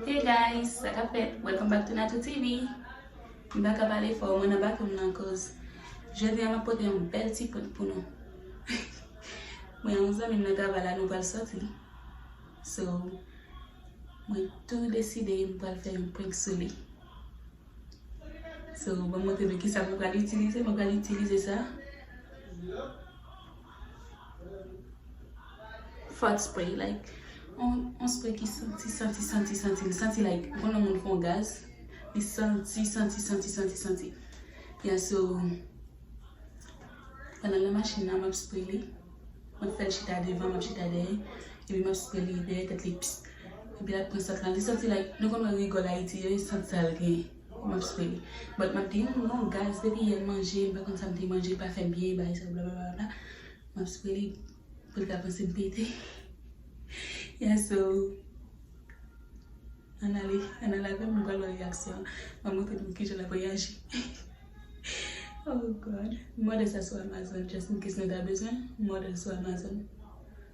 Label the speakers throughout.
Speaker 1: Hey guys sa kap fèt welcome back to Natou TV m paka pale fò mwen nan bathroom nan koz jodi an map pote yon bèl ti poud pou nou mwen yon zanmim nan travay la nou pral soti so mwen tou deside m pral fè yon prank sou li so banm montre nou kisa mwen pral itilize mwen pral itilize sa Fòt spray like yon spray ki santi santi santi santi li santi like ou konn lè moun fon gaz li santi santi santi santi santi ya so pandan nan machin nan map spray li map fèl chita devan map chita dèyè epi map spray li dèyè tèt li pss epi lap pran sant lan li santi like nou konn wè rigòl ayiti yo e sant sal gen. Must pay but map di nou non guys depi yè m manje m pa konn sa m te manje pa fèm byen bagay sa blablabla map spray li pou l ka panse m pete yeah so ann ale ann al avè m nou pral wè reyaksyon l map montre nou kijan lap reyaji oh god m òdè sa sou amazon just in case nou ta bezwen m òdè l sou amazon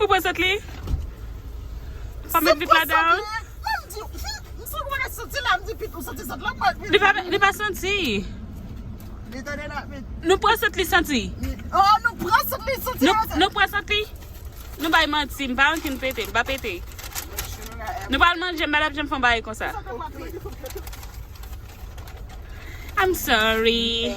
Speaker 1: Ou pran sant li? Pa met vit la down? Li pa santi. Nou pran sant li santi? Nou pran
Speaker 2: sant li santi?
Speaker 1: Nou bay manti, m pa yon kin pete, li pa pete. Nou pa al manje, m pa tap janm fon bagay konsa. I'm sorry.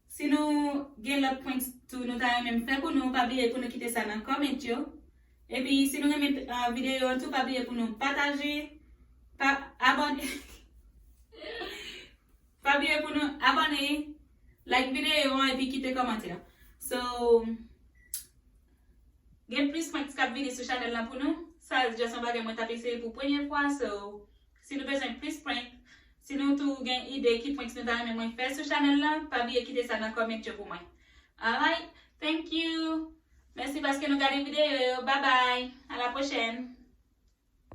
Speaker 1: Si nou gen lòt prank tou nou ta renmen m fè pou nou pa bliye pou nou kite sa nan comment yo epi si nou renmen video an tou pa bliye pou nou pataje pa abone pa bliye pou nou abone like video an epi kite kòmantè so gen plis prank kap vini sou chanèl la pou nou sa just yon bagay mwen tap eseye pou premye fwa so. Si nou bezwen plis prank, si nou tou gen ide ki pranks nou ta renmen mwen fè sou chanèl lan, pa bliye kite sa nan comment yo pou mwen. Alright, thank you! Mèsi paske nou gade videyo yo, babay! A la pwochèn!